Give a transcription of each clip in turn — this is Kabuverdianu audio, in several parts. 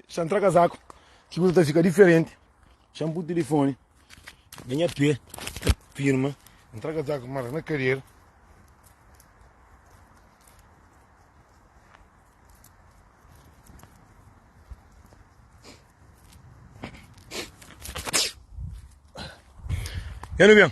Xa ntra kazaku Ki kuza ta fika diferenti Xa npu tilifoni Na nha pé Ta firma Ntra kazaku marka na karera Ya nu ben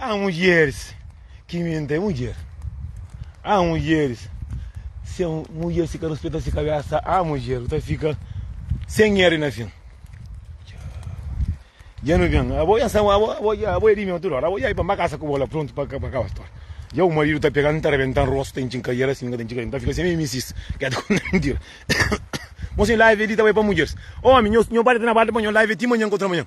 Há mulheres que mentem mulher Há mulheres se mulher se ka respeta se cabeça Há mulher que ta fica sem erro na fim Já não vem Abo já são abo abo já abo é de mim tudo hora Abo já é para casa com bola pronto para acabar a história Já o marido tá pegando tá arrebentando rosto tem que encarar assim tem que tá fica sem mimisis quer te contar mentira Moço live ali também para mulheres Homem meu meu padre tá na barra de manhã live até manhã contra manhã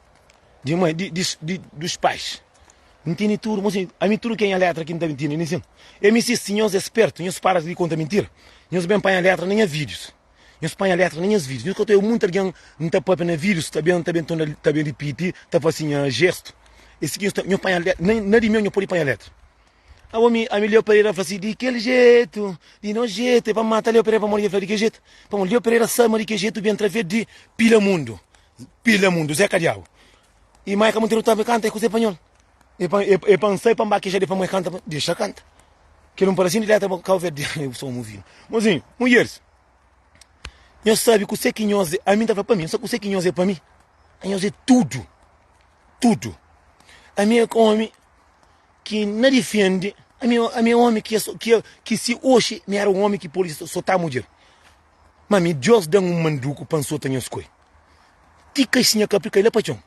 Di mãe, di, di, di, dos pais. N tene tudo, mas a mim tudo que é minha letra aqui não tá mentindo, nem sim. Eu me insisto, nós é esperto, nós para de contar mentira, nós bem apanha letra na minha vídeos. Nós apanha letra na minhas vídeos. Nós conta eu muito alguém não tá papia na vídeos, tá bem, tá bem, tá bem, tá bem repetir, tá fazendo assim, gesto. Esse aqui nós tá, nós apanha letra, na, na de mim nós pode apanha letra. A homem, a Leo Pereira fala assim, de que jeito, de não jeito, é para matar Leo Pereira para morrer, fala de que jeito. Para Leo Pereira sabe de que jeito, vem através de pila mundo. Pila mundu zé ka diabu. E mai ka Monteiro tava canta e com Zé Panhol. E pa e, e pa sai pa mbaqueja de pa mãe canta, deixa canta. Que não parece de letra para cá verde, eu sou um vinho. Mozinho, mulheres. Eu sabe que você que nós, a mim tava para mim, só que você que nós é para mim. A nós é tudo. Tudo. A minha homem que não defende, a minha, a minha homem que, que, que se hoje me era um homem que pode soltar a mulher. Ma mi, Deus da-m un manduku pa N sota nhos koi, ti kai si nha kapi kai la pa txon,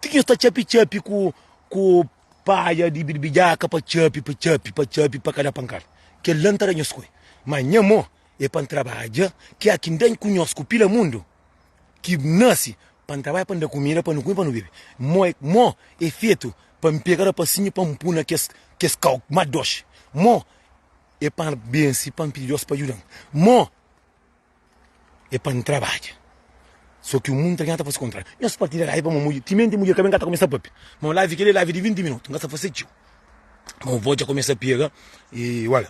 ti ki nhos ta txapi-txapi ku paja di birbidjaka pa txapi, pa txapi, pa txapi, pa ka da pankada. Kel-la N ta da nhos koi. Ma nha mô é pa N trabadja ki a ki N da-n ku nhos ku pila mundu ki nase, pa N trabadja pa N da kumida pa nu kume, pa nu bebe. Mô é mô é fetu pa N pega rapasinhu pa N pui na kes kau ma doxi. Mô E pa N bense, pa N pidi Deus pa djuda-m. Mô, e pa N trabadja. So ki un mun ta nha ta fase kontráriu. Nhos partida lavi pamó mudjer. Timenti mudjer ka ben ka ta kumesa pape. Ma un lavi kel-li é lavi di vinti minutu. N ka sta fase txeu. Ma un vós dja kumesa pega i ola.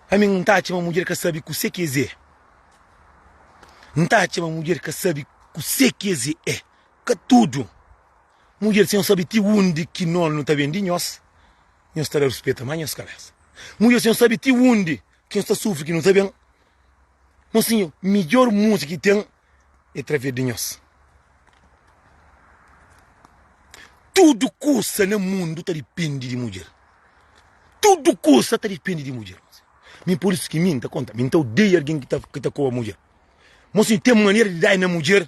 Ami N ta atxa ma mudjer ka sabe kuse ki es é. N ta atxa ma mudjer ka sabe kuse ki es é. Ka tudu mudjer sen sabe ti undi ki nonu ta ben di nhos. Nhos ta da ruspeta, má nhos ka meste. Mudjer, si nhos sabe ti undi ki nhos ta sufri ki nu ta ben, ma sinhor, midjor múzika ki ten é través di nhos. Tudu kusa na mundu ta dipende di mudjer. Tudu kusa ta dipende di mudjer. Mi pur isu ki mi, N ta konta, mi N ta odeia algen ki ta koba mudjer. Má sinhor, ten manera di da-i na mudjer.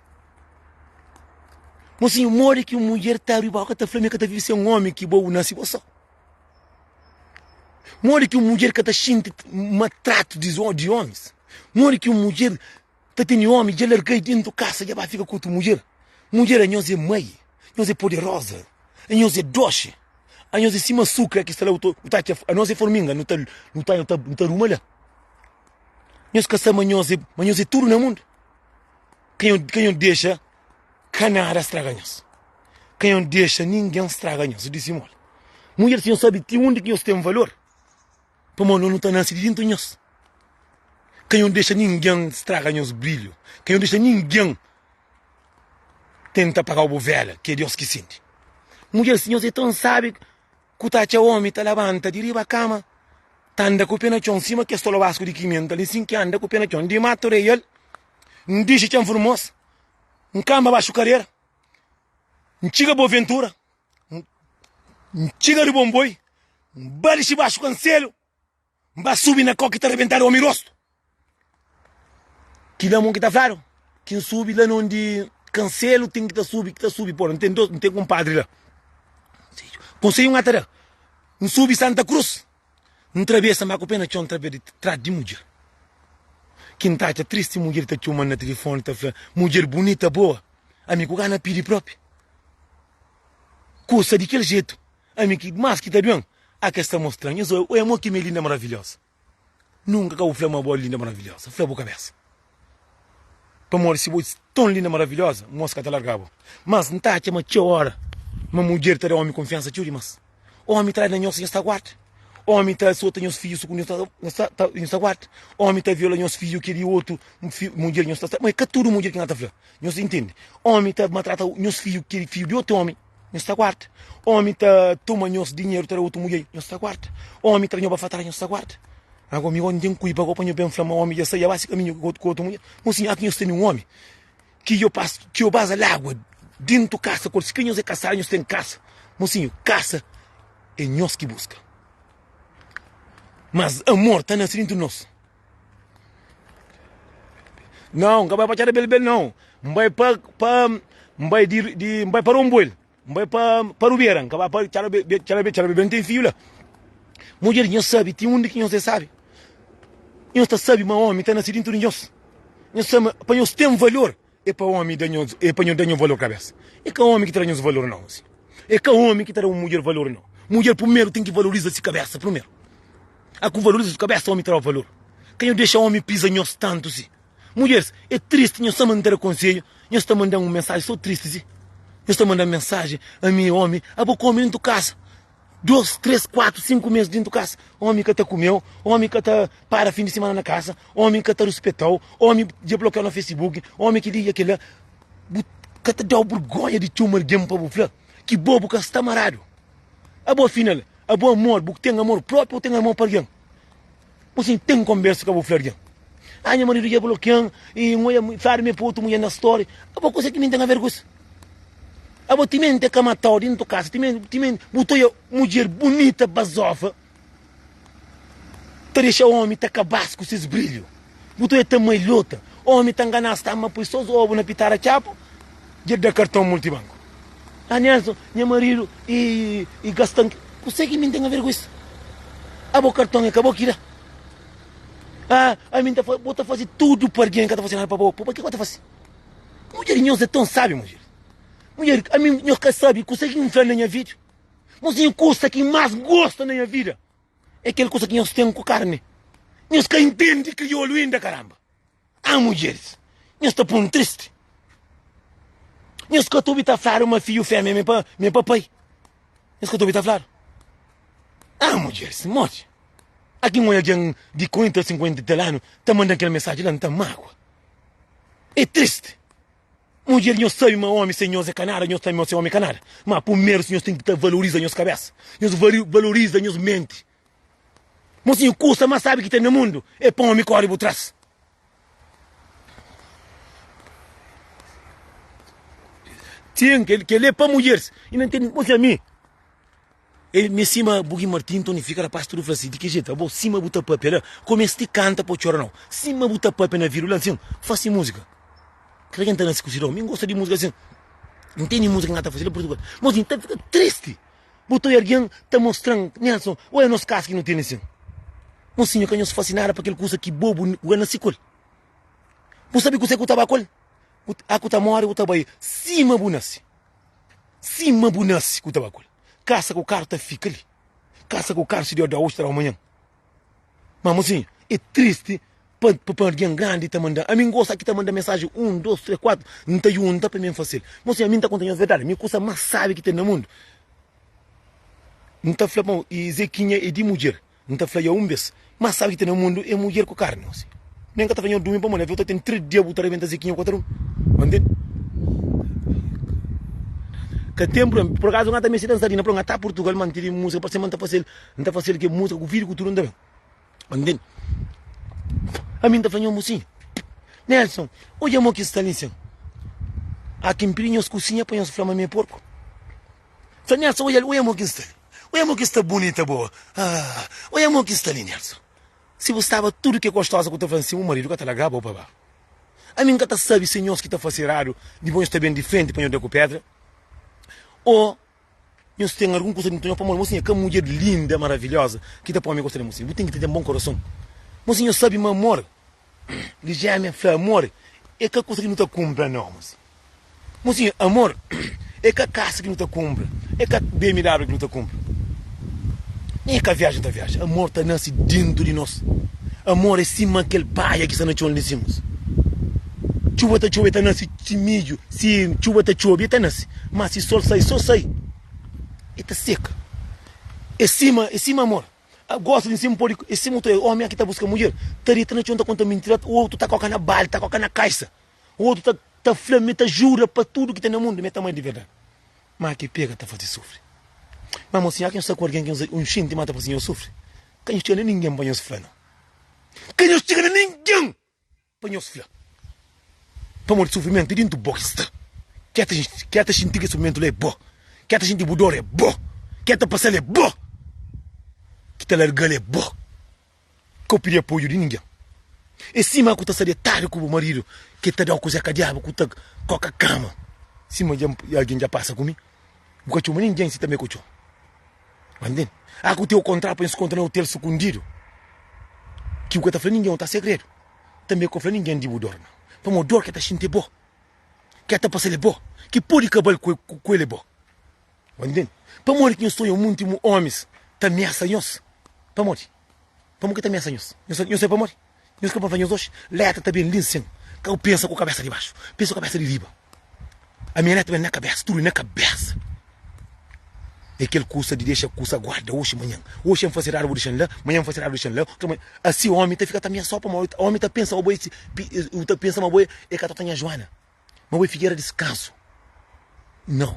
Mocinho, modi ki un mulher ta abri boka ta fla mi ka ta vive sen omi ki bo, bu nase bo so? Modi ki un mulher ka ta xinti maltratu di omis? Modi ki un mulher ta tene omi dja larga-i dentu kasa dja ba fika ku otu mulher? Mulher anhos é mai, anhos é poderoza, anhos é doxi, anhos é sima asukra ki sta la, bu ta atxa anhos é forminga, nu ta nu ta ruma la? Nhos ka sabe ma anhos é tudu na mundu? Ka nhu, ka nhu dexa ka nada straga nhos. Ka nhu dexa ningen straga nhos. Disi simon. Mudjer si nhu sabi ti undi ki nhos ten valor, pamó no nu ta nase di dintu nhos. Ka nhu dexa ningen straga nhos brilhu. Ka nhu dexa ningen tenta apagau bu vela, ki é Deus ki sindi. Mudjer si nhos é tan sabi. ku ta atxa omi ta labanta di riba kama ta anda ku pé na txon sima kes tolobasku di kimenta li sin ki anda ku pé na txon di matu reial n dixi txan furmosa n kanba baxu karera n txiga bo ventura n txiga di bonboi n ba dixi baxu kanselu N ba subi na kau ki ta rebentadu omi rostu. Ki la mon ki ta fladu ki N subi la na undi kanselu ten ki ta subi ki ta subi pora. N ten dos N ten kunpadri la. Konseju N a ta da N subi Santa Cruz N trabesa ma ku pe na txon N ta perde tradu di mudjer ki N ta atxa tristi mudjer ta txuman na tilifoni ta fla mudjer bunita boa ami ku ka na pidi propi kusa di kel jetu Ami ki mas ki ta ben a kes ta mostran nhas oi oi amor ki mi linda maravilhosa nunka ka bu fla ma bo linda maravilhosa fla bu kabesa pamodi si bo ton linda maravilhosa mos ka ta larga bo mas nta atxa ma txeu ora ma mudjer ta da omi konfiansa txeu dimas omi trai na nhos nhos ta guarda omi ta sota nhos fiju su ku nhos ta nhos ta guarda omi ta viola nhos fiju ki di otu mudjer nhos ta ma e ka tudu mudjer ki na ta fla nhos intende omi ta matrata nhos fiju ki fiju di otu omi. nhos ta guarda Omi ta toma nhos dinheru ta da otu mudjer nhos ta guarda Omi tra nho ba fatra nhos ta guarda Ago mi omi ten kuiba ago pa nho ben fla ma omi dja sai dja ba si kaminhu ku otu mudjer Mo sinha aki nhos tene un omi ki djo pasa ki djo baza lagua dintu kasa kor sikrê nhos é kasadu nhos ten kasa Mo sinha kasa é nhos ki buska Mas amor ta nase dintu nos. Nau, N ka bai pa txada Belbel nau, N bai pa, pa, N bai di, di, N bai pa Rombuel, N bai pa, pa Rubera, N ka bai pa txada Be- Be- txada Be- txada Belbel N ten fiu la. Mudjer, Nhos sabe ti undi ki nhos é sabi? Nhos ta sabi ma omi ta nase dintu di nhos? Nhos sabe ma pa nhos ten valor? É pa omi da nhos, é pa nhos da nhos valor kabésa. É ka omi ki ta da nhos valor nau si. É ka omi ki ta da un mudjer valor nau. Mudjer prumeru ten ki valoriza si kabésa prumeru. A ku valoriza si kabésa omi ta daba valor. Ka nhos dexa omi piza nhos tantu si. Mudjeris, é tristi nhos sama n ta da konsedju, nhos ta mandan un mensaji so tristi si. Nhos ta mandan mensaji, ami é omi, abo ku omi nu ntu kasa. 2, 3, 4, 5 mês dentu kasa Omi ka ta kumeu Omi ka ta para fin di simana na kasa Omi ka ta ruspetau Omi dja blokiau na facebook Omi kel li kel la Bu ka ta dau burgonha di txoma algen pa bu fla ki bo bu ka sta maradu Abo afinal abo amor bu ten amor propi ô ten amor pa algen Bu sim tem conbersa ka bu fla argen ah nha marido dja blokean e ngo dja fladu me pa otu mulher na story abo kusa ki mim tem a ver ku isso abo ti mim tem ka matau dintu kasa ti mim ti mim bu ta oia mudjer bunita bazofa ta dexa omi ta kabas ku ses brilho bu ta oia ta malhota omi ta nganas ta ama poi sos obu na pitada txapu Dja da karton multibanku. Ah Nelson, nha marido e gastan ki. Kusé ki mi N ten aver ku es? Ah bo karton e ka bo ki da. Ah ami N ta fazi, bo ta fazi tudu pa argen ka ta fazi nada pa bo, pabakê ki bo ta fazi? Mudjer nhos e ton sabi mudjer. Mudjer ami nhos ka sabi kusé ki N fla na nha vida. Bo siña kusa ki N mas gosta na nha vida e kel kusa ki nhos ten ku karni. Nhos ka intendi kriolu inda karamba. Ah mudjeris, nhos ta pô-m tristi. Nhos ka ta obi ta fladu ma fidju fémia mi pa mi papai. Nhos ka ta obi ta fladu. Ah mudjeris, modi? A kin oi algen di 40 ô 50 di tel anu ta manda-m kel mesaji la, N ta mágua. É tristi. Mudjeris, nhos sabe ma ómi sen nhos é ka nada, nhos tanbê ose ómi é ka nada. Má, primeru, nhos ten ki ta valoriza nhos kabésa. Nhos valoriza nhos menti. Mosinhu kusa ma sabi ki ten na mundu e pa omi kori bu tras. Ten kele pa mulheres i na ntende mosinhu ami e mi sima bu ki martin ntoni fika rapaz tudu fla si di ki jetu abo sima bu ta papia la ko mesti kanta pa txora nau sima bu ta papia na vidu la nsin fasi musika kila ken ta nasi ku si don mi gosta di musika asin ntende musika ki na ta fasi la purtugal mosinhu ta fika tristi Bu ta oi argen ta mostra-m Nelson ô é nos kasa ki nu tene sen? Mosinha ka nhos fase nada pa kel kusa ki bo bu ka nase ku el. Bu sabe kuzê ki bu ta ba ku el? Bu ta, a ku ta móre bu ta bai sima bu nase. Sima bu nase ku ta ba ku el. Kasa ku karu ta fika li. Kasa ku karu si Deus da oji ta da-u manhan. Má, mozinhu, é tristi pa pa algen grandi ta manda. Ami n gosta ki ta manda mensaji un, dos, três, kuatu, n ta junta pa mi n fase-l. Mozinhu, ami n ta konta nhos verdadi, mi kusa más sábi ki ten na mundu. N ta fla pa bo, i Zekinha é di mudjer. N ta fla-ia un bês, más sábi ki ten na mundu é mudjer ku karni, mozinhu. Mi N ka ta fla nhos durmi pamodi avion ta ten três dia bu ta rebenta Zekinha ku oter un. Ba ntende? Ka ten prubléma. Pur akazu, N ka ta meste dansa li, na prublema. N ka ta ta Purtugal, mantidi múzika, parse ma N ta fase-l N ta fase-l ke muska ku fidi ku tudu N ta ben Ba ntende Ami N ta fla nho musinha Nelson, odja mo ki Stalin sen A ki mpidi nhos kusinha pa nhos fla ma mi é porku Sa Nelson, odja li, odja mo ki Stalin Odja mo ki sta bunita boa Haa, odja mo ki Stalin Nelson, si bu staba tudu ke gostoza ku ta fla nsin, bu maridu ka ta lagaba-u pa ba Ami N ka ta sabe si é nhos ki ta fase eradu dipôs nhos ta ben di frenti pa nho da ku pedra o. Nhos ten algun kusa dentu nhos pamodi mosi nha ka mudjer linda maravilhoza ki ta pome gosta de mosi bu ten ki ta ten bon korason mosi nhos sabi ma amor di jemia fla amor e ka kusa ki nu ta kunpra no mosi mosi amor e ka kasa ki nu ta kunpra e ka bmw ki nu ta kunpra nen e ka viaja nu ta viaja amor ta nasi dentu di nos amor e sima kel paia ki sta na txon li di si mosi txuba ta txuba e ta nasi. Si midju, si txuba ta txobe, e ta nase, má si sol sai, so sai, e ta seka. E sima, e sima amor, a gosi di nsimu pode, e sima utru omi a ki ta buska mudjer, ta deta na txon ta konta mintira, ta otu ta koka na baldi, ta koka na kaisa, otu ta ta fla mi ta jura pa tudu ki ten na mundu mi ta ama-l di verdadi. Má ki pega ta faze sufri. Má mo sinha, ki nhos sta ku algen ki nhos nhos xinti ma ta faze nhos sufri, ka nhos txiga na ningen pa nhos fla no. Ka nhos txiga na ningen! Pa nhos fla, Pamodi sufrimentu é dentu bo ki sta, ki é ta xinti kes sufrimentu la é bo, ki é ta xinti bu dor é bo, ki é ta pasa-l é bo, ki ta larga-l é bo. Ka bu pidi apoiu di ningen. É sima ku ta sta detadu ku bu maridu ki el ta da-u kuze ka diabu ku ta koka kama. Sima algen dja pasa ku mi, bu ka txoma ningen si tanbê ku txoma. Mantende? Ah, ku teu kontra pa nhos konta na otel sukundidu. Ki bu ka ta fla ningen, o ta segredu. Tanbe ku ka fla ningen di bu dor na. Pamod dor ke ta xinti e bo. Ke ta pasal e bo. Ki podi kabal ku ku el e bo. Mantende? Pamodi ki nhos ta oja munti omis ta miasa nhos? Pamodi? Pamodi ke ta miasa nhos? Nhos sa, nhos sabe pamodi? Nhos ka pa fla nhos oxi, Létra ta ben li sen ka bu pensa ku kabésa di baxu, pensa ku kabésa di riba. A minha létra ben na kabésa, tudu na kabésa. É kel kusa di dexa kusa guarda oxi manhan. Oxi N fase eradu bu dexa-m la, manhan N fase eradu bu dexa-m la, otra manhan. Asi omi ta fika ta miasó pamodi omi ta pensa ma bo é, omi ta pensa ma bo é ka tota nha Juana. Ma bu é figera di skazu? Nau!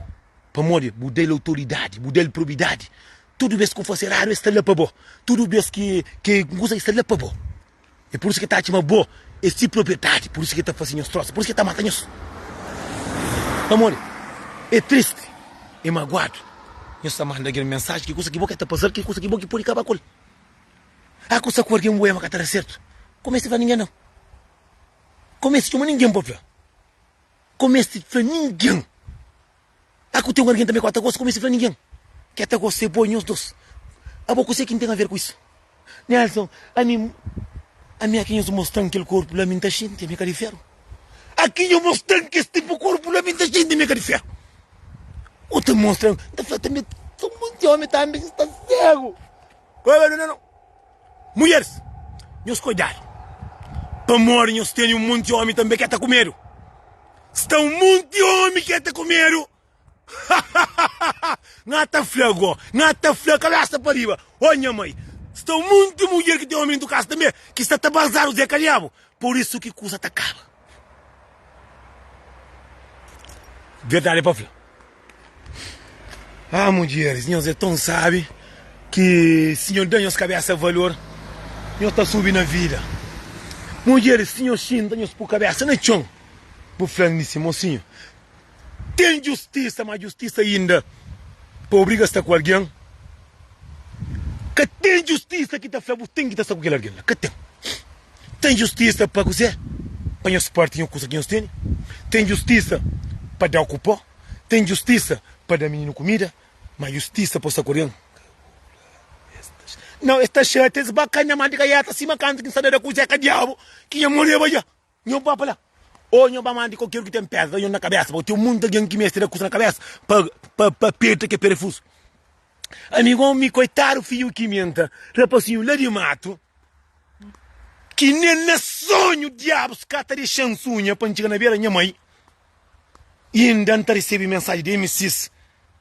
Pamodi bu da-l autoridadi, bu da-l probidadi. Tudu bês ki bu faze eradu, el sta la pa bo. Tudu bês ki ki un kuza, el sta la pa bo. É pur isu ki el ta txoma bo é se propriedadi. Pur isu ki el ta faze nhos trosa, pur isu ki el ta mata nhos. Pamodi el tristi, el maguadu. Nhos ta manda algen mensaji, ki kuza ki bo krê ta pasa-l, ki kuza ki bo ki pode kaba ku el. A kusa ku algen bu ama ka ta da sertu, kumesa fla, Ningen-m. Ka meste txoma ningen pa fla Ka meste fla ningen A ku ten un algen tanbe ku a ta gosta Ka meste fla ningen Ki a ta gosta e bo nhos dos Abo kuse ki N ten aver ku isu Nelson, ami Ami aki nhos mostan kel korpu la Mi N ta xinti ami ka di feru Aki nhos mostan kes tipu korpu la Mi N ta xinti ami ka di feru O ta mostra N ta fla tanbe Somos di omi tanbe ki sta segu Ka obi aluna no. Mulheris, nhos kodjadu, pamodi nhos teni un monti omi tanbe k'é ta kumedu. Sta un monti omi k'é ta kumedu, hahahaha! N'á ta fla go, n'á ta fla kabésa pa riba, Ó nha mai! Sta un monti mudjer ki ten omi dentu kasa tanbe, ki sta ta bazadu zé kalhabu, pur isu ki kusa ta kaba. Verdade pa fla Ah mudjeris, nhos é ton sábi Ki si nhos da nhos kabésa valor Nhos ta subi na vida Mudjeris, si nhos xinta nhos pô kabésa na txon Bu fla-m di si mosinhu Ten djustisa, má djustisa inda pa obriga sta ku algen Ka ten djustisa ki ta fla bu ten ki ta sta ku kel algen la Ka ten. Ten justisa pa kuzê? Pa nhos párti nha kusa ki nhos tene? Ten justisa pa da-u ku pó? Ten justisa pa da mininu kumida? Má justisa pa sakodia-m? Nau, es ta xatia, es ba ka-m na manta kaiata, sima kantu ki N sta da da kuzê ka diabu ki nha moreba dja. Nho ba pa la, ô nho ba manta di kualker un ki ten pédra da nho na kabésa, pa ten monti algen ki meste da kusa na kabésa pa perde kel perefuzu. Amigon mi koitadu fiu kimenta rapasinhu la di matu ki nen na sonhu diabus ka ta dexan sunha pa ntxiga na bera nha mai i inda nta risebi mensaji di mss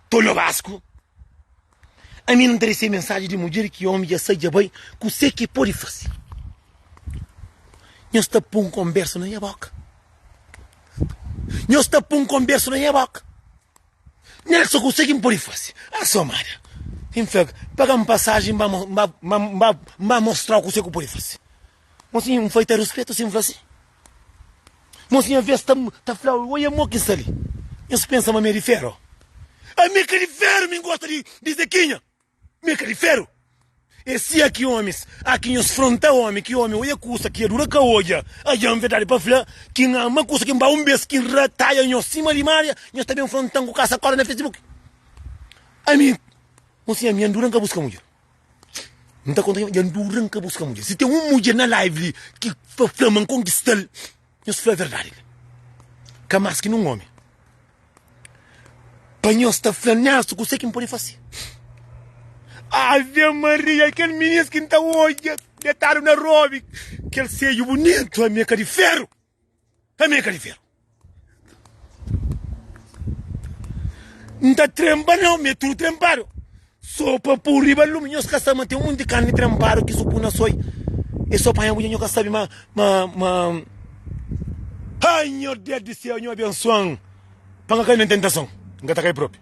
to no basku ami nta risebi mensaji di mudjer ki omi dja sai dja bai kuse ki podi fasi nhos ta pun konbersu na nha boka nhos ta pun konbersu na nha boka. Nhas sa kuzê ki N pode faze? A sô amada ki N fla, Paga un pasajen, N ba mostra-u kuzê ki bu pode faze. Mosinha, N fai ta ruspetu si N fla si. Mosinha vês ta fla-u, Oia mo ki N sta li, nhos pensa ma mi é di feru? Ami ka di feru, mi N gosta di zekinha. Mi é ka di feru. E si a ki omis, a ki nhos fronta omi, ki omi oja kusa ki adura ka oja, adja, N verdadi pa fla, ki N ama kusa ki N ba un bes, ki N ra taja nhos sima limaria, nhos ta ben fronta-m ku kasa kóra na Facebook. Ami, N siña mi, N dura N ka buska mudjer. N ta konta, dja N dura N ka buska mudjer. Si ten un mudjer na live li ki ta fla ma N konkista-l. Nhos fla verdadi li, ka más ki nun ómi, pa nhos ta fla nesu kuse ki N pode fase. Ave Maria, kel minis ki N ta odja detadu na robi, kel seju bunitu, ami é ka di feru, ami é ka di feru. N ta trenba na omi, é tudu trenbadu. Sopa pô riba lumi nhos ka sabe ma ten un monti di karni tranpadu ki so pô na soi e so panha bu dja nho ka sabe ma ma ma ai nho Deus di seu nho abensuan pa nga kai na tentason n ka ta kai propi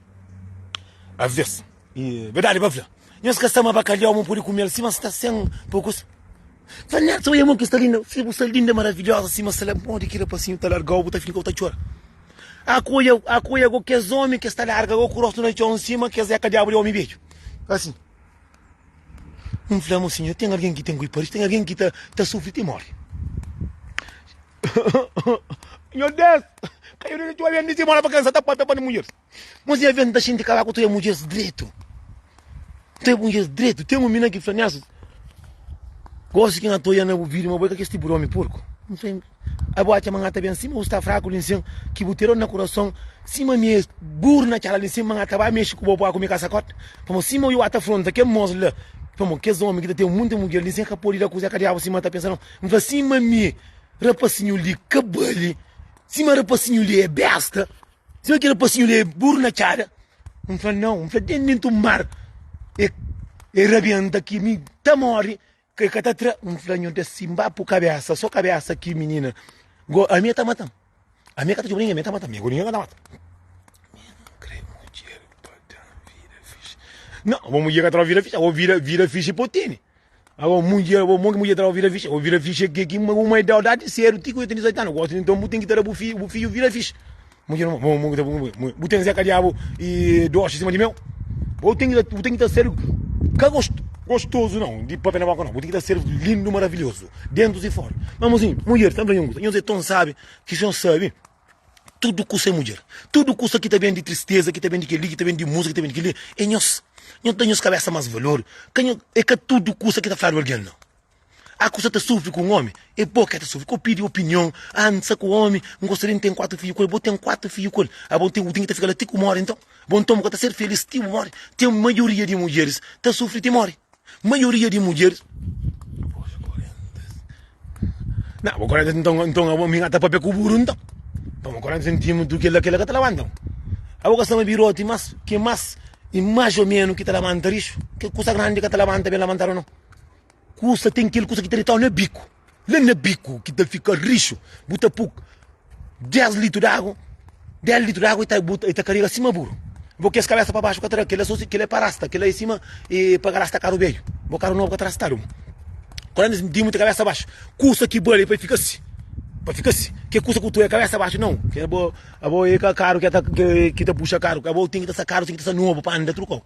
aves e verdadi pa fla nhos ka sabe ma bakaliau mon pode kumel sima sta sen pokus Fla nel, Sa bai amor ki sta linda, si bu sta linda, maravilhosa sima sela, modi ki rapasinhu ta largau, bu ta fika ta txora. Akoia, akoia go kes omi kes ta larga go ku rostu na txon nsima kes é ka diabu di omi bedju asin. N fla, Mo sinhor, ten algen ki ten goi paridu, ten algen ki ta ta sufri ti mori. Nhos Deus, ka yo na txora, N disi, Mo na vakansa ta papia pa nu munheris. Mas i avia nta xinti kaba ku tria mudjers dretu. Tria mudjers dretu. Ten un mina ki fla-mi, Asus, gosi ki N atoia na bu vida, ma bo é ka kes tipu di omi purku. N fla-l, Ai, bo atxa ma N ta ben si, ma bu sta fraku li nsin, ki bu tira-u na kurason, sima mi es buru na txala li nsin, ma N ta ba mexi ku bo pua ku mi kasakot? Pamodi sima ui ata fronta kel mos la, pamodi kes omi ki ta ten munti mudjer li nsin é ka podi da kuza, é ka diabu sima N ta pensa nau. N fla, Sima mi, rapasinhu li ka bali, sima rapasinhu li é besta. Se aquele passinho ali é burro na tchada, não fala não, não fala dentro, dentro do mar, é, é rabienta que me tá morre, que que tá tra, não fala não tá simba por cabeça, só cabeça aqui menina, go, a minha tá matando, a minha tá tipo ninguém, a minha tá matando, a minha tá matando. Não, vamos ir atrás vira ficha, ou vira, vira ficha e potini. Abo munje, abo mon ki munje traba vira fixe, abo vira fixe ke ki ma uma idao dati sedu ti ku yo teni 18 anu, gosi nton bu ten ki tara bu fiju, bu fiju vira fixe. Munje no, mon mon ki ta bu mon, bu ten zeka diabu e dosi sima di meu. Bo ten ki ta, bu ten ki ta sedu ka gost, gostozu no, di pape na boka no, bu ten ki ta sedu lindu, maravilhozu, dentus i fora. Ma mozinho, munjer ta fla nhu un kusa, nhos e ton sabi ki si nhos sabi, Tudu kusa é mudjer. Tudu kusa ki ta ben di tristeza, ki ta ben di kel-li, ki ta ben di múzika, ki ta ben di kel-li, é nhos. Nhos da nhos kabésa más valor. Ka nho, é ka tudu kusa ki ta fladu algen, nau. Há kusa ta sufri ku un ómi, é bo ki el ta sufri. Ka bu pidi opinion, ah, N sta ku ómi, N gosta di N ten kuatu fidju ku el. Bo ten kuatu fidju ku el. Abo bu ten, bu ten ki ta fika la ti ku móre, nton. Bo nton bu ka ta ser filís ti bu móre. Ten maioria di mudjeris ta sufri ti móre. Maioria di mudjeris Nah, bo koréntas nton, nton abo mi ngata papia ku buru nton. Pa bo koréntas nti mutu kela kela ka ta labanta. Abo ka staba biroti mas ke mas i mas o menu ki ta labanta rixu. Ke kusa grandi ka ta labanta ben labantadu non. Kusa ten kel kusa ki ta ditaw na biku. la na biku ki ta fika rixu bu ta puk 10 litru di agu 10 litru di agu e ta bu e ta karega sima buru bo kes kabesa pa baxu ka ta da kila sosi kila e pa rasta kila e sima e pa rasta karu beiu bo karu nobu ka ta rastadu bo kula mesmu dimu ta kabesa baxu kusa ki bali pa e fika si pa fika si ke kusa ku tuwe kabesa baxu nau ke bo abo e ka karu ke ta ke ki ta puxa karu abo ten ki ta sa karu ten ki ta sa nobu pa anda tudu kau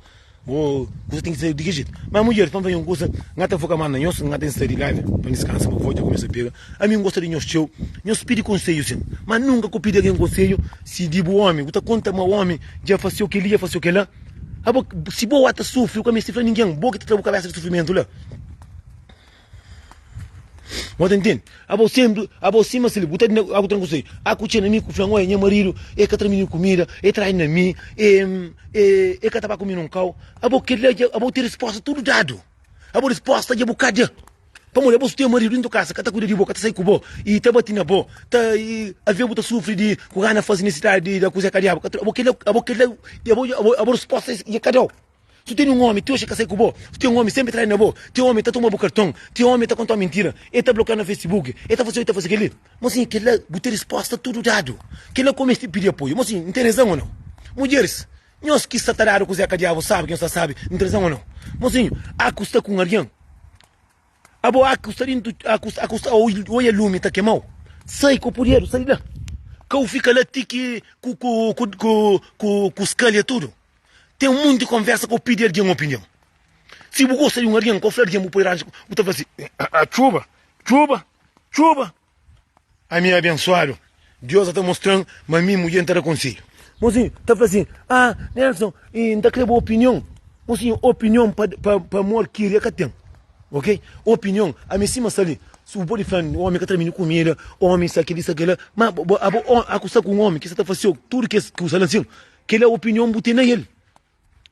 Bo kusa ten ki ser di kel jetu ma mudjeris pa N faze un kusa N ka ta foka más na nhos N ka ten saidi di la ben pa N diskansa bo avó dja kumesa pega ami N gosta di nhos txeu nhos pidi konsedju sen ma nunka ku pidi algen konsedju si di bu ómi bu ta konta ma ómi dja faseu kel-li dja faseu kel-la abo si bo ata sufri bu ka meste fla ningen bo ki ta tra bu kabésa di sufrimentu la. Mo ta entende? Abo sendu, abo sima sili, bu ta di aku tran kusei. Aku txena mi ku flan, oia, nha maridu e ka tra mi nin kumida, e trai na mi, e e e ka ta ba ku mi nun kau. Abo kel la dja, abo ten resposta tudu dadu. Abo resposta dja bu ka da. Pamodi abo su ten maridu dentu kasa, ka ta kuida di bo, ka ta sai ku bo, i ta bati na bo, ta i avia bu ta sufri di ku gana fazi nesidadi di da kuze ka diabu, ka tra. Abo kel la, abo kel la, abo, abo resposta dja ka dau. Si bu tene un omi, txeu xe ka sai ku bo, si ten omi senpri trai na bo, txeu omi ta toma bu karton, txeu omi ta kontau mintira, e ta blokiau na facebook, e ta fasi oi ta fasi keli. Mo sin kela bu ten risposta tudu dadu. Kela ku mesti pidi apoiu. Mo sin, N ten rezan o nau? Mudjeris, nhos ki sa ta dadu kuzé ka diavu sabi ki nhos ta sabi, N ten rezan o nau? Mo sin, A ku sta ku un algin? Abo, A ku sta dintu, A ku sta, A ku sta oi e lumi ta kemau? Sai ku puderu, sai di la. Kau fika la ti ki ku, ku, ku, ku, ku, ku skalia tudu. Ten monti konversa ka bu pidi algen opinion. Si bu gosta di un algen, ka bu fla algen bu poi ranchu, bu ta fla si, ah, txuba, txuba, txuba. Ami é abensuadu. Deus sa ta mostra-m ma mi, mudjer, N ta da konsedju. Mosinhu ta fla sin, ah, Nelson, N ta kre bu opinion. Mosinhu, opinion pa amor kiria ka ten, ok? Opinion, ami sima sta li, si bu podi fla-m omi ka tra mi kumida, omi sa kel-li, sa kel-la, ma abo, aku sta ku un omi ki sa ta fasiu tudu kes kusa la sin. Kel la opinion bu ten na el.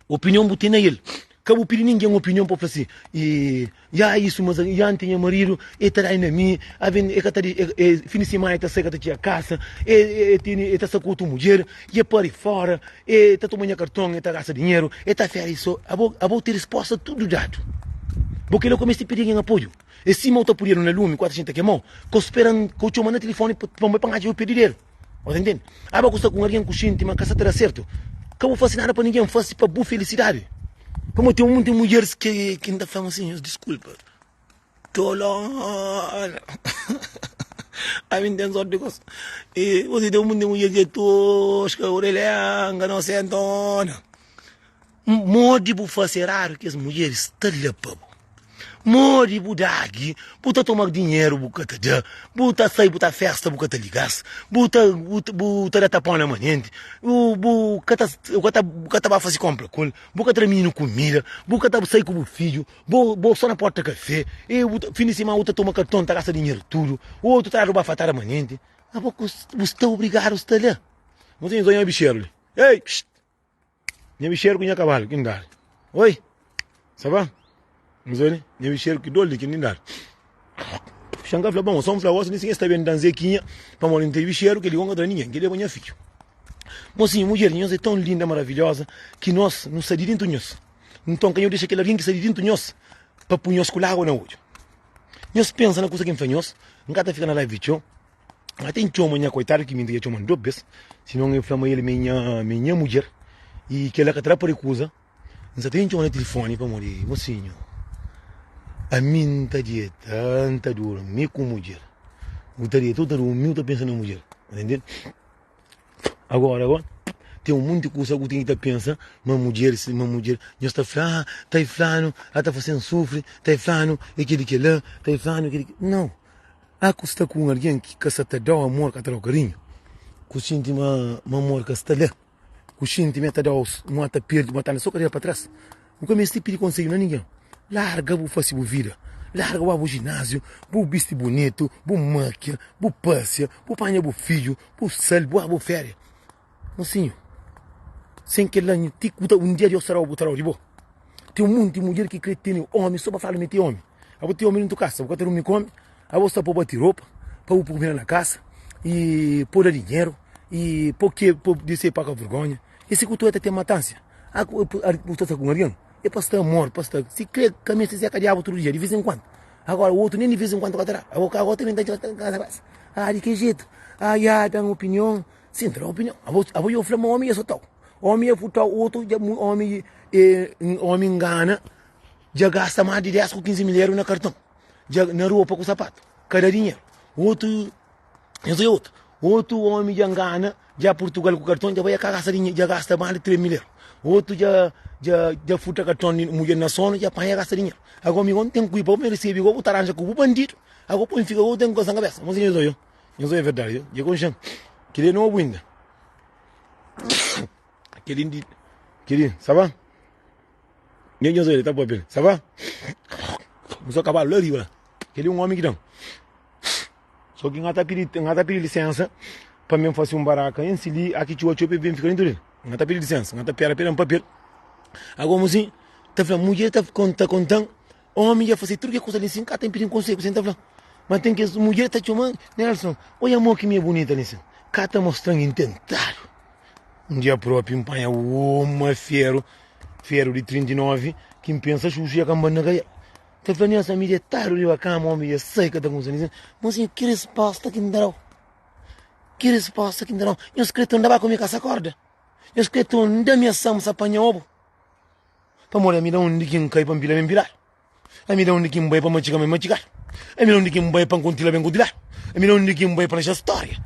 Opinion bu ten na el. Ka bu pidi ningen opinion pa bu fla si, e, ya isu, mas ya N ten nha maridu, e ta dai na mi, aven, e ka ta dexi, e, e, fin di simana e ta sai ka ta txia kasa, e, e, e tene, e ta sta ku otu mudjer, e pari fora, e ta toma nha karton, e ta gasta dinheru, e ta fera i so. Abo, abo ten resposta tudu dadu. Bo kel la kumesa ta pidi algen apoiu. E si mau ta puriadu na lumi, ku ata xinti ta kemau, ka bu spera N, ka bu txomanu na tilifoni pa N bai panha djabe pa pedideru. Ora entende? Aba ku sta ku alguém ku xinti ma ka sa ta da sertu, ka bu fasi nada pa ninguém, fasi pa bu felisidadi. Pamodi ten monti mudjeris ki ki ta fla-m asin, nhos diskulpa, tolona, ami N ten sorti di gosi, i gosi ten monti mudjer ki é toska, orelha ianganu, sentona. Modi bu fase radu kes mulheris ta la pa bu modi bu dagi bu ta toma dinheru bu ka ta da bu ta sai bu ta festa bu ka ta ligas bu ta bu ta da tapon na manenti bu bu ka ta bu ka ta ba fase konpra ku el bu ka ta da mininu kumida bu ka ta sai ku bu fidju bo bo so na porta kafé e bu ta fin di siman bu ta toma karton ta gasta dinheru tudu otu ta dadu bafatada manenti abo ku bu sta obrigadu sta la nta inzoi un bicheru li ei Nha bixeru ku nha kabalu ki N dadu Oi, sa ba? N fla li Nha bixeru ki dolu di ki N dadu Xanka fla Bon, so N fla gosi mi si nha sta ben da-m zekinha Pamodi N ten bixeru, kel-li gosi N ka ta da ningen, kel-li é pa nha fidju Mosinhu, mudjer di nhos é ton linda, maravilhoza Ki nos nu sai di dintu nhos Nton ka nha dexa kel algen ki sai di dintu nhos Pa pu nhos ku lágua na odju Nhos pensa na kusa ki N fla nhos N ka ta fika na live di txeu Má ten txoma nha koitadu ki minti ki el txoma-m dôs bês, sinon el fla ma el mi nha mi nha mudjer i kel-la ka ta da pari kuza. N sta ta intxoma na tilifóni pamodi, Mosinhu, ami N ta dieta, N ta durmi ku mudjer. U ta dieta, u ta durmi, u ta pensa na mudjer. Tá ntendidu? Agóra, bo ten un monti kuza ku ten ki ta pensa ma mudjer si, ma mudjer. Nhos ta fla, Ah, ta e flanu, el ta fase-m sufri, ta e flanu, e kel-li, kel-la, ta e flanu, e kel-li, kel-la. Nau! Há ku sta ku un algen ki ka sa ta da-u amor, ka ta da-u karinhu, ku xinti ma amor ka sta la, ku xinti ma el ta da-u ma el ta perde, ma el ta anda so karera pa tras. Bu ka meste pidi konsedju na ningen. Larga bu fase bu vida, larga ba bu jináziu, bu bisti bunitu, bu mákia, bu pâsia, bu panha bu fidju, bu sal, bu ba bu féria. Mosinhu, sen kel-la nhu ti ku ta. Un dia Deus ta da-u butaraú di bo. Ten un monti mudjer ki krê tene ómi sô pa fla ma el ten ómi. Abo ten ómi dentu kasa, bo ka ta durmi ku ómi? Abo sta pô-bo ti ropa, pa bu poi kumida na kasa i pô-u da dinheru i pô-u ke pa bu dise paka vergónha. É si ku ta ten matánsia? A Bu ta sta ku un algen é pa sta amor, pa sta. Si krê ka meste ser ka diabu tudu dia, di vês en kuandu. Agóra otu nen di vês en kuandu ka ta da. Abo ka abo ta ben ta dja kasa bas. Aa di ki jetu? Aa ya da-m opinion. Sin, ta da un opinion. Abo yo fla ma omi ya sotau. Omi ya putau otu ja mu omi e omi ngana ja gasta mas di 10 ku 15 mil euro na karton. Ja na ropa ku sapatu. Ka da dinheru. Otu nhos ya otu. Otu omi ja ngana ja Portugal ku karton ja bai ya ka gasta dinheru ja gasta mas di 3 mil euro. Otu ja ja ja furta karton di mudjer na sonu ja panha gasta dinheru. Ago mi go n ten ku i pa bu mi risibi go bu ta ranja ku bu bandidu. Ago poi n fika go bu ten ku kasa na kabesa. Mon siñor Zoion. Nhos obi é verdadi? Dja konxe-m. Kel-li é nobu inda. Kel-li di. Kel-li, sa ba? Nel nhos obi el ta pâpia li, sa ba? Kumesó kabalu la riba la. Kel-li é un ómi ki da-m. Sô ki N ka ta pidi, N ka ta pidi lisénsa pa mi N fase un baraka ansi li, a ki txeu, a txeu pa el ben fika dentu di el. N ka ta pidi lisénsa, N ka ta pera pa el da-m pâpia el. Agomo si, ta fla-m, mudjer ta konta-m Omi dja fase tudu kel kusa li sin ka ta pidi-m konsegu, sin ta fla. Ma ten kes mudjer ta txoma Nelson, Odja mo ki mi é bunita li sin, ka ta mostra-m intentadu. Un dia propi, N panha uma feru, feru di 39, ki N pensa xuxu dja ka N ba-l na kaial. N ta fla Nelson, Mi detadu riba kama, omi dja sai, ka ta kumsa li sin. Mon sinha, ki resposta ki N ta da-u? Ki resposta ki N ta da-u? Nhos kre tunda ba ku mi ka sa korda? Nhos kre tunda mi asam sa panha obu? Pamodi ami da undi ki N kai pa N pila ben piladu, ami da undi ki N bai pa N matxiga ben matxigadu, ami da undi ki N bai pa N kuntila ben kuntiladu, ami da undi ki N bai pa N axa stória.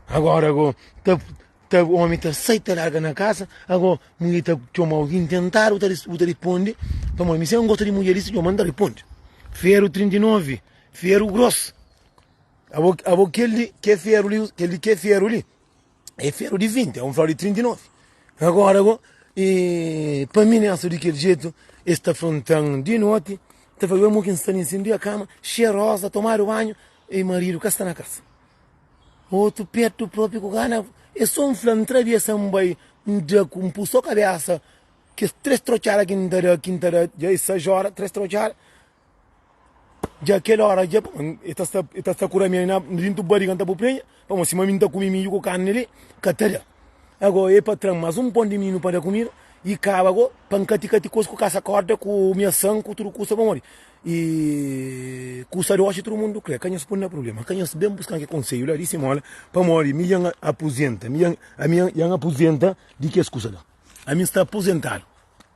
Agora go ta ta omi ta sai ta larga na kasa ago mudjer ta txoma algin tentadu bu ta bu ta ripondi pamodi mi sai un gosta di mudjer disi txoma N ta ripondi feru 39 feru gross abo abo kel li ke feru li kel li ke feru li. É feru di vinti, é un flor di trinti novi Agora go e pa mi nessa di kel jeito es ta frontan di noti ta fla mo ki n sta li n sindi a cama cheirosa tomado banho e marido ka sta na casa outro perto próprio ku gana e só n fla n travessa n bai n da ku n pu só cabeça kes tres trochada ki n ta da ki n ta da dja e seis horas tres trochada Dja kel óra dja ba, el ta sta, el ta sta kura mi na dintu bariga, N ta bu prenha, pamodi sima mi N ta kume midju ku karni li, ka ta da. Ago, e patran, mas un pon di minu pa da kumida, i kaba go, pa N kati kati kos ku kasa kórda, ku miasan, ku tudu kusa, pamodi i kusa di oxi tudu mundu kre. Ka nhos pun-m na prubléma, ka nhos ben buska-m ke konseju la, di simola, pamodi mi dja N apuzenta, mi dja N, ami dja N apuzenta di kes kusa la, ami N sta apuzentadu.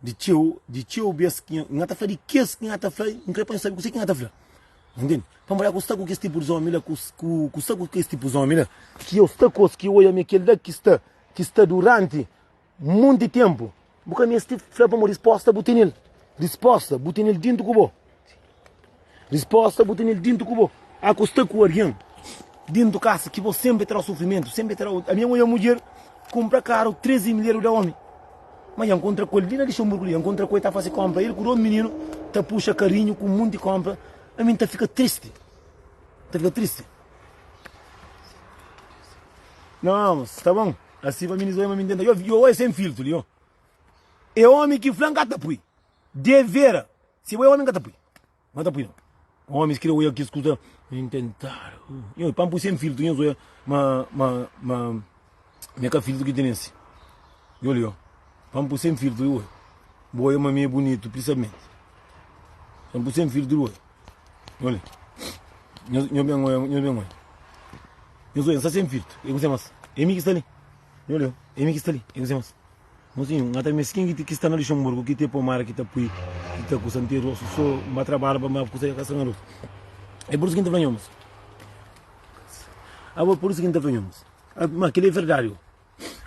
Di txeu, di txeu bes ki nha, nha ta fla di kes ki nha ta fla, N krê pa N sabe kuzê ki nha ta fla. N intende? Pamodi aku sta ku kes tipu di ómi la, ku, ku, ku sta ku kes tipu di ómi la, ki eu sta ku es, ki eu oia ma é kel-la ki sta, ki sta duránti monti ténpu. Bu ka meste fla pamodi respósta bu tene-l. Respósta bu tene-l déntu ku bo. Rispósta, Bu tene-l dintu ku bo. A Ku sta ku algen dintu kasa ki bo senpri tra-u sufrimentu, senpri tra-u. Ami N oja un mudjer kunpra karu tres di milher, bu da omi. Ma N kontra ku el li na Lixenburgu li, N kontra ku el ta fase konpra, el ku dôs mininu ta puxa karinhu ku un monti konpra. Ami N ta fika tristi, N ta fika tristi. Nau, sta bon, asi pa mi N oja, mi N tenta. Yo oja sen filtru li, yo. E omi ki fla-m ka ta pui. Devera! Si bo é omi n ka ta pui ma ta pui no omis kre oia kes kuza n tentar nhos pa n pui sen filtru nhos oia ma ma ma mi é ka filtru ki tene si yo li yo pa n pui sen filtru oi bo oia ma mi é bunitu prisamenti pa n pui sen filtru oi yo li nhos nhos ben oia nhos ben oia nhos oia n sta sen filtru e kuzê mas é mi ki sta li yo li yo é mi ki sta li e kuzê mas. Mozinhu, N ka ta meste ken ki sta na Luxemburgu ki ta pô mara ki ta pui ki ta kusa. N ten rostu so, N ba trabadja pa mara kusa, e ka sta na rostu. É pur isu ki N ta fla nhos. Abo, é pur isu ki N ta fla nhos. Ma kel-li é verdadi, ô?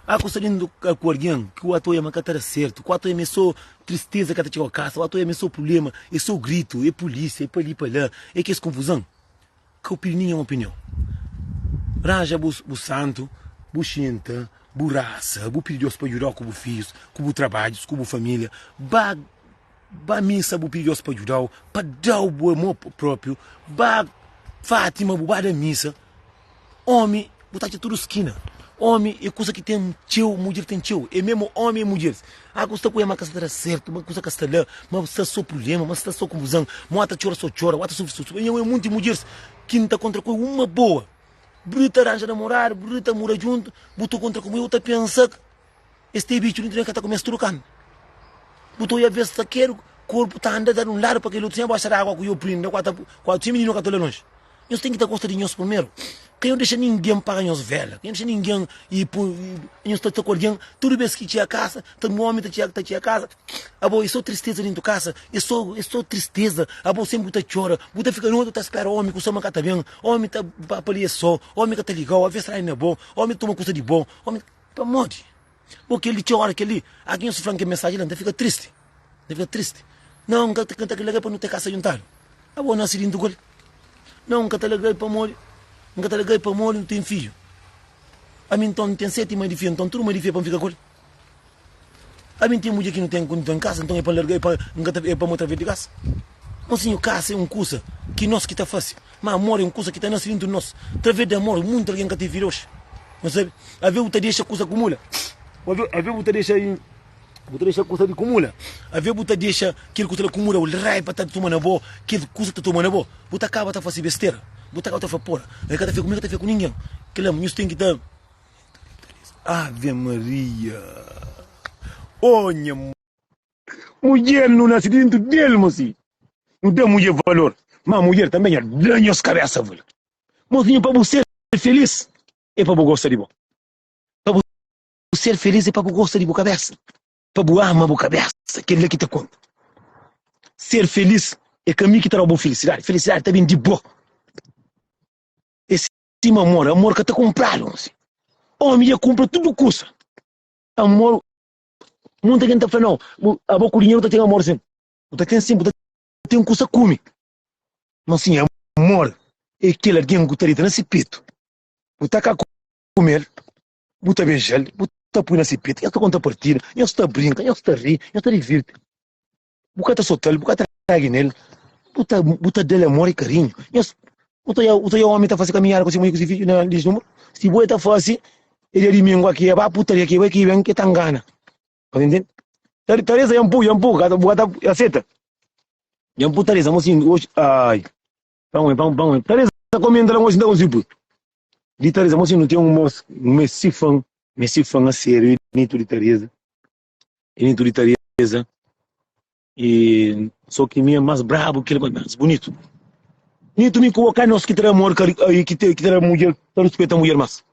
Há kusa di N toka ku algen ki ua ta oja ma ka ta da sertu. Ku ua ta oja ma é sô tristeza ki ka ta txiga kasa. Ua ta oja ma é sô prubléma, é sô gritu, é pulísia, é pa li, pa la, é kes konfuzon. Ka opinion é opinion. Ranja bu bu santu, bu xinta, bu rasa, bu pidi Deus pa djuda-u ku bu fijus, ku bu trabadjus, ku bu familia. Ba ba missa bu pidi Deus pa djuda-u, pa da-u bu amor propriu. Ba Fatima bu ba da missa. Omi Bu ta atxa tudu skina Omi e kusa ki ten txeu Mudjer ten txeu E mesmu omi e mudjer A ku sta ku el ma ka sta ta da sertu Ma kusa ka sta la Ma sta so prulema Ma sta so konfuzan Ma wa ta txora so txora Wa ta sufri so sufri Nha ue munti mudjers Ki N ta kontra ku e Uma boa Bru ta ranja namoradu Bru ta mura djuntu Bu ta kontra ku mu Eu ta pensa k. Es tê bitxu li, nton e ka ta kume-s tudu kan bu ta oia bes ta kedu korpu ta anda da di un ladu pa kel otu sen e boxa di agua ku yo prinda kua ta kua otu sen mininu ka ta ola lonji nhos ten ki ta gosta di nhos primeru ka yo dexa ningen paga nhos vela ka yo dexa ningen i poi nhos ta sta ku algin tudu bes ki txia kasa ta un omi ta txia ta txia kasa abo e so tristeza dentu kasa e so e so tristeza abo senpri bu ta txora bu ta fika noti bu ta spera omi ku sama ka ta ben omi ta ba pa li e so omi ka ta liga-u aves trai na bo omi ta toma kusa di bo omi. Pamodi? Bo kel li txeu ora kel li algin nhos fla-m kel mensaji la, N ta fika tristi, N ta fika tristi. Nau, N ka ta kanta kel alegria pamodi nu ten kasa djuntadu. Abo nase di ntuku li. Nau, N ka ta alegrai pamodi, N ka ta alegrai pamodi nu ten fidju. Ami nton, N ten seti mai di fia, nton tudu mai di fia pa N fika ku el. Ami N ten mudjer ki nu ten konditon kasa nton e pa N larga-l e pa N ka ta e pa mo ta vê di kasa Mon sinhu kasa e un kusa ki nos ki ta fase ma amor e un kusa ki ta nase dintru di nos ta vê di amor munti algen ka ta vira oxi no sabe avê bu ta dexa kusa kumula avê avê bu ta dexa i bu ta dexa kusa di kumula avê bu ta dexa kel kusa la kumula ol raiba ta tuma na bo kel kusa ta tuma na bo bu ta kaba ta fase bestera bu ta kaba ta fla pora e ka ta fê ku mi ka ta fê ku ningen kila nhos ten ki ta. Ave Maria Oh nha Mudjer nu nase dentro del mosi Nu da mudjer valor Ma mudjer tanbe nha Da nhos kabesa valor Mosinha pa bu ser feliz E pa bu gosta di bo Pa bu ser feliz e pa bu gosta di bu kabesa Pa bu ama bu kabesa Kel la ki ta konta Ser feliz e ka mi ki ta da bo felicidade Felicidade ta bin di bo E Sima amor, amor ka ta kunpradu nsi. Omi dja kunpra tudu kusa. Amor, munta ken ta fla nau, bu, abo ku dinheru bu ta ten amor sin. Bu ta ten sin, bu ta ten kusa kumi. Ma sin amor, e kel algen ku ta dita na si petu. Bu ta ka kumel, bu ta bejal, bu ta pui na si petu, nhos ta konta partidu, nhos ta brinka, nhos ta ri, nhos ta divirti. bu ka ta sotal, bu ka ta ragi nel, bu ta, bu ta del amor e karinhu. Nhos, uta ya, uta ya omi ta fasi kaminhada ku si mui ku si fidju na lis numru? Si bu e ta fasi, e dia dimingu aki e ba putaria ki e bai ki ben ke ta ngana. Nhos intende? Ta, Teresa ya mpu, ya mpu, ka ta- bu ka ta ya seta. Ya mpu Teresa, mo sin oxi, ai. Panguen, pang, panguen. Teresa komenta la mo sin ta konsi pu. Di Teresa, mo sin nu ten un mos, un messi fan, messi fan a serio e bonitu di Teresa. Initu di Tareza e só ki mi é mais brabo que ele mas mais bonito Nito mi com o nós que terá amor que que terá mulher para respeitar mulher mais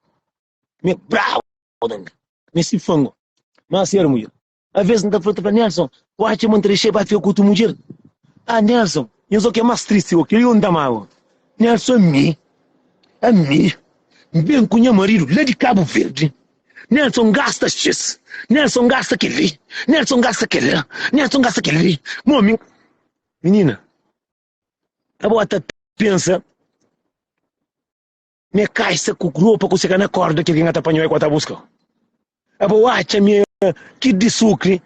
me bravo me se fango mas ser mulher às vezes não tá falando para Nelson quase uma entrevista para ficar com tu mulher ah Nelson eu só que é mais triste eu queria um damado Nelson a mim a mim bem com meu marido lá de Cabo Verde Nelson gasta xis Nelson gasta kel-li Nelson gasta kel-la Nelson gasta kel-li Mon mi Minina Abo ta pensa Mi é kaixa ku ropa ku seka na korda Ki algen ka ta panha-u é ku a ta buska-u Abo atxa mi é kit di sukri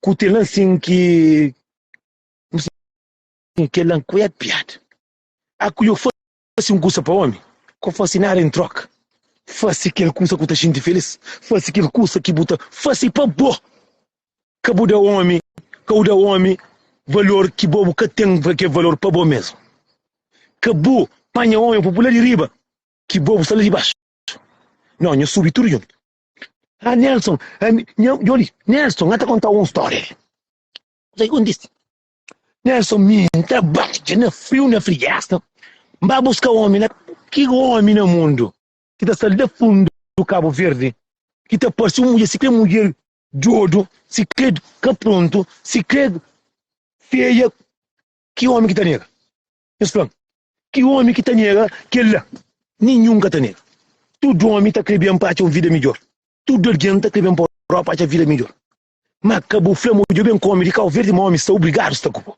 Ku tel na nsin ki Kel-la nkué piada Aku yo Fase un kusa pa ómi, ka fase nada en tróka. Fase kel kusa ki bu ta xinti filís, fase kel kusa ki bu ta fase pa bo. Ka bu da ómi, ka bu da ómi valor ki bo bu ka ten kalker valor pa bo mésmu. Ka bu panha ómi pa bu la di riba, ki bo bu sta la di baxu. Nau, nha subi tudu djuntu. Ah, Nelson, ami, nha, djô li, Nelson, nha ta kontau un stória li. Kusa ki kontise? Né so mi, n ta badja na friu na friesta, n ba buska omi na ki omi na mundu ki ta sal da fundu di Kabu Verdi ki ta parsi un mudjer sikrê mudjer djodu, sikrê ka prontu, sikrê feia ki omi ki ta nega? Nhos fla-m, ki omi ki ta nega kel-la? Ninhun ka ta nega. Tudu omi ta krê ben pa atxa un vida midjor, tudu algen ta krê ben pa Europa atxa vida midjor. Má ka bu fla ma odja ben ku ómi di Kabu Verdi, má ómi sta obrigadu sta ku bo.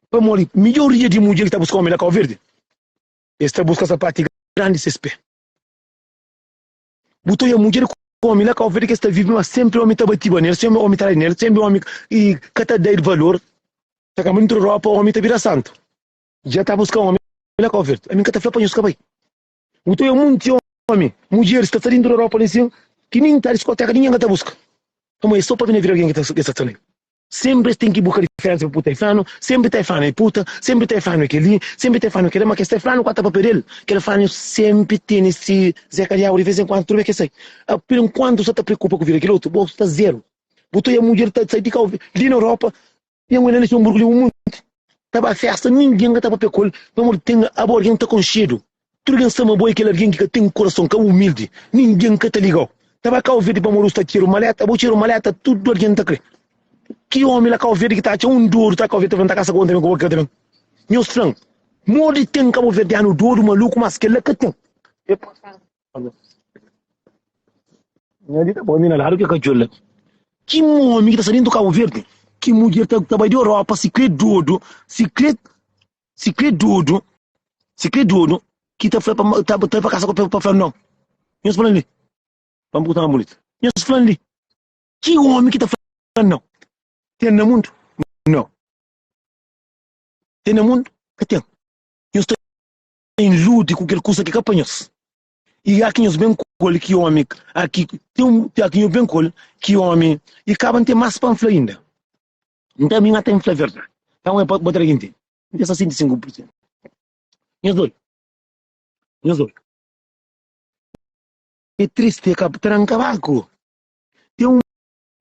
Pamodi midjoria di mudjer ki ta buska ómi na Kabu Verdi, es ta buska sapatu di grandi ses pé. Bu ta odja mudjer ku ómi na Kabu Verdi ki es ta vive, má sénpri ómi ta batiba nelis, sénpri ómi ta da-l dinheru, sénpri ómi ka ta da-l valor. Ta kanba nutru Europa ómi ta bira santu. Dja ta buska ómi na Kabu Verdi? Ami N ka ta fla pa nhos ka bai. Bu ta oja monti omi, mudjer sta ta lindu Europa li sin ki nin ta diskoteka ninguém ka ta buska. Ama es so pa bini vira alguém ki ta es ta ta li. Sempre es tem ki buka diferensa pa puta e flanu, sempre ta e flanu e puta, sempre ta e flanu e keli, sempre ta e flanu e kela, ma kes ta e flanu ku ata pa pedel, kel flanu sempre teni si zeka diabu di vez en kuandu tudu vez ke sai. A per enkuantu bu sta ta preokupa ku vida kel otu, bo sta zero. Bu ta oja mudjer ta sai di kau li na Europa Nha mui na lixon burku li un monti Ta ba festa ninguém ka ta papia kol Pamor tem abo alguém ta conxedo Tudo alguém sama bo é kel alguém ki ka tem coração Ka humilde ninguém ka ta ligao Ta ba Cau Verde pamor us ta txeru maleta Abo txeru maleta tudo alguém ta kre Ki omi la Cau Verde ki ta atxa un dodu ta Cau Verde ta fla-m ta kasa ku un também ku bo ka ta Nhos fla-m modi tem Cabo Verdeano dodu maluku mas kel la ka tem. Nha di ta poi mi na ladu ke ka djola. Ki momi ki ta sta dentu Kabu Verdi? Ki mudjer ta ta bai di Europa si kre dodu, si kre si kre dodu, si kre dodu ki ta fla pa ma ta ta pa kasa ku pa fla no. Nhos fla-m li, pa N purta-m bunitu, nhos fla-m li ki omi ki ta fla no? Ten na mundu? No. Ten na mundu? Ka ten. Nhos ta. em lute ku kel kusa ki ka pa nhos. I aki nhos ben kol ki omi aki, ten un, i aki nhos ben kol ki omi, i kaba nten mas pa nfla inda. Nta mi nata nfla verdadi, ta un e pa bo tra ki ntende. Nte 65%. Nhos oi, nhos oi. E triste e kab, tra nkabaku. Ten un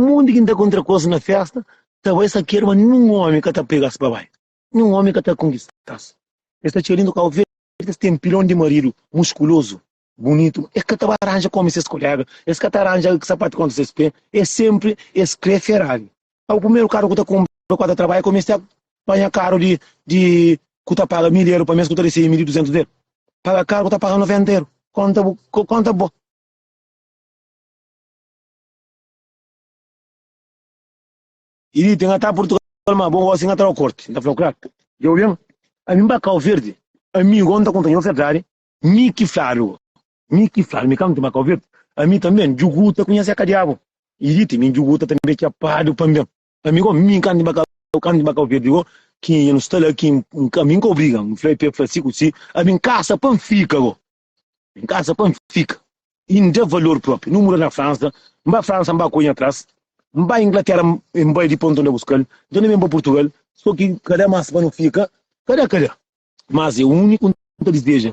monti ki nta kontra kos na festa, ta bai sakier, ma ninhun omi ka ta pegas pa bai. Ninhun omi ka ta konkista-s. Es ta txia lindu kau verdi, es ten pilon di maridu muskulozu, bunitu. Es ka ta ba ranja kome ses kolega, es ka ta ranja sapatu kontra ses pé, es senpri es krê Ferrari. Kau primeru karu ku ta kunpra ku el ta trabadja, kome es ta panha karu di di ku ta paga mil eru pa mês ku ta resebe mil i duzentus del paga karu ku ta paga noventa eru. Konta bu konta bo. E li ten ata Portugal ma bo gosi, N ta tra-u korti, N ta fla-u klar. Dja obi-m, ami N ba kau verdi, ami go N ta konta-u nha ferdadi. Mi ki fladu, mi ki fladu, mi ka mti ba kau verdi, ami tanbe N djuguta ku nha seka diabu. E li ti mi N djuguta tanbe txapadu panbe-m, ami go mi N ka mti ba kau, ka mti ba kau verdi go, ki N sta la ki, ami N ka obriga, N fla-i pa e fla si ku si, ami N kasa pa N fika go. N kasa pa N fika i N da valor propi. Nu muda na Fransa, N ba Fransa, N ba ku nha tras, N ba Inglatera, N bai di ponta N da buskal, nton N ben pa Purtugal. So ki ka da mas pa nu fika, ka da ka da, mas e uniku N ta dizeja.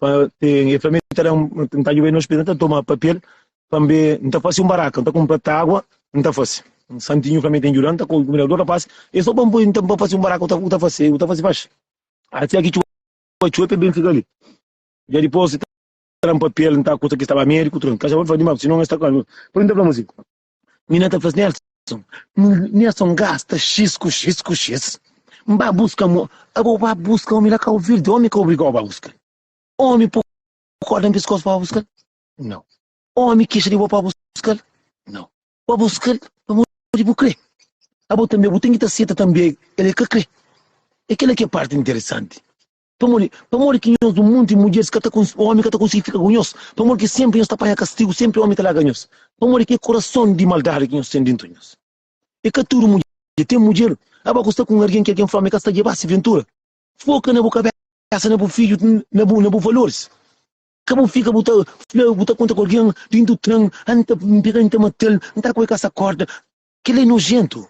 pa ten el fla mi ta da n ta djuba-l na ospital n ta toma papel pa n be n ta fase un baraka n ta kunpra ta agu n ta fase un santinhu fla mi ten djuda-l n ta kunbina dôs rapaz e so pa n poi nta pa fase un baraka u ta fase u ta fase faxi asi a ki txoba txoba pa el ben fika li dja dipôs ta da-m papel nta kusa ki staba médiku tudu kaxabon fla di ma sinon es ta kla mi poi n ta fla ma si. Mi na ta fla-s, Nelson, Nelson gasta xis ku xis ku xis, N ba buska-m o. Abo ba buska omi la, ka ouvir di omi ka obriga-u ba buska-l. Omi po korda na piskos pa ba buska-l? Nau. Omi kixa di bo pa ba buska-l? Nau. Ba buska-l pamodi bu kre. Abo tanbe bu ten ki ta seta tanbe el e ka kre. E kila ki é párti interesanti. Pamodi? Pamodi ki nhos un monti mudjeris ka ta konsigi, omi ka ta konsigi fika ku nhos? Pamodi ki senpri nhos ta panha kastigu, senpri omi ta laga nhos? Pamodi ki é kurason di maldadi ki nhos ten dentu nhos. É ka tudu mudjer, ten mudjer. Aba ku sta ku un algen ki algen fla ma el ka sta djeba si ventura. Foka na bu kabésa, na bu fidju, na bu na bu valoris. Ka bu fika bu ta fla, bu ta konta ku algen dentu tren, a N ta pega-l, N ta mata-l, N ta ku el kasa korda. Kel-la é nojéntu.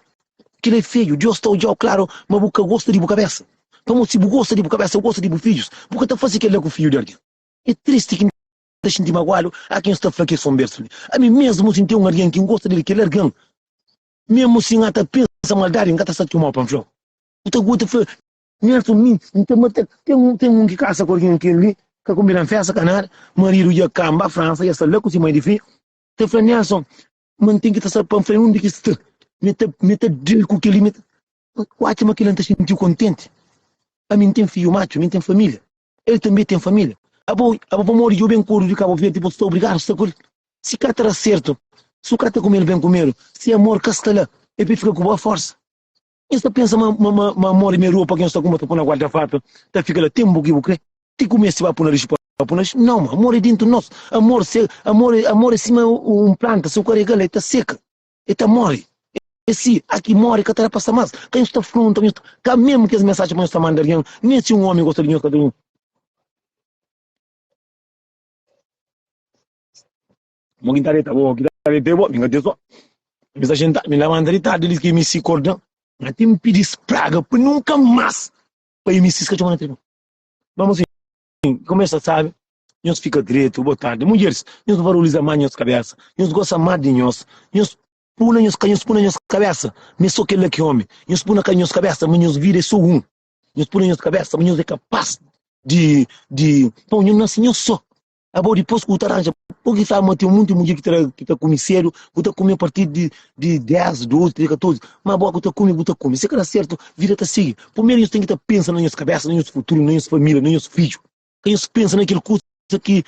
Kel-la é feju. Deus ta odja-u klaru, má bu ka gosta di bu kabésa. Pamodi si bu gosta di bu kabésa, bu gosta di bu fidjus. Bu ka ta faze kel-la ku fidju di algen. É tristi ki N ta xinti maguadu até N sta fla kes konbersu li, Ami mésmu, si N ten un algen ki N gosta di el, kel algen, mésmu si N ka ta pensa maldadi, N ka ta sta txoma-u pa N fla-u. Bu ta gosta fla, Nelson, mi N ta mata-l. Ten un ki kasa ku algen ki el li ka konbida-m fésta ka nada. Maridu dja kanba Fransa, el sta la ku se mai di fi. Ta fla, Nelson, ma n ten ki ta sabe pa n fla-l undi ki es sta. Mi ta mi ta da-l ku kel-li, mi ta. Ma N atxa ma kel-la N ta xinti-u kontenti. Ami N ten fidju matxu, mi N ten família, el tanbê ten família. Abo, abo pamodi djobe N kordu di Kabu Verdi, bo sta obrigadu sta ku el? Si ka ta da sertu, si bu ka ta kume-l ben kumedu, se amor ka sta la, el pode fika ku bo aforsa. Nhos ta pensa ma, ma, ma, ma modi me ropa ki nhos ta kuma ta pô na guarda fápia ta fika la tenpu ki bu krê? Ti ku meste ba pô na lixu pa pô na lixu? Nau, ma amor é dentu nos. Amor se, amor é, amor é sima un planta, si bu ka rega-l el ta seka, el ta móre. É si, a ki móre ka ta da pa sta más. Ka nhos ta fronta, ka nhos ta, ka mésmu kes mensajen pa nhos ta manda algen, nen si un ómi gosta di nhos ka ta. Mo ki ta deta bo, ki ta deta bo, mi ka ten son. Mi sta xinta, mi labanta di tardi, elis ki mi si korda. Ma ti mi pidi spraga pa nunka mas pa i mi siska txoma na tribuna. Ma mo si kumesa sabi, nhos fika dretu, bo tardi. Mudjeris, nhos varuliza ma nhos kabesa, nhos gosa ma di nhos, nhos pu na nhos, ka nhos pu na nhos kabesa ma e so kela ki omi, nhos pu na ka nhos kabesa ma nhos vida e so un, nhos pu na nhos kabesa ma nhos e kapas di, di, bon, nhos nasi nhos so. Abo dipos ku ta ranja, bo ki sabi ma ten monti mudjer ki ta da ki ta kume sedu, bu ta kume a partir di di 10, 12, 13, 14, ma bo ku ta kume bu ta kume, si ka da sertu vida ta sigi. Primeru nhos ten ki ta pensa na nhos kabesa, na nhos futuru, na nhos familia, na nhos fidju, ka nhos pensa na kel kusa ki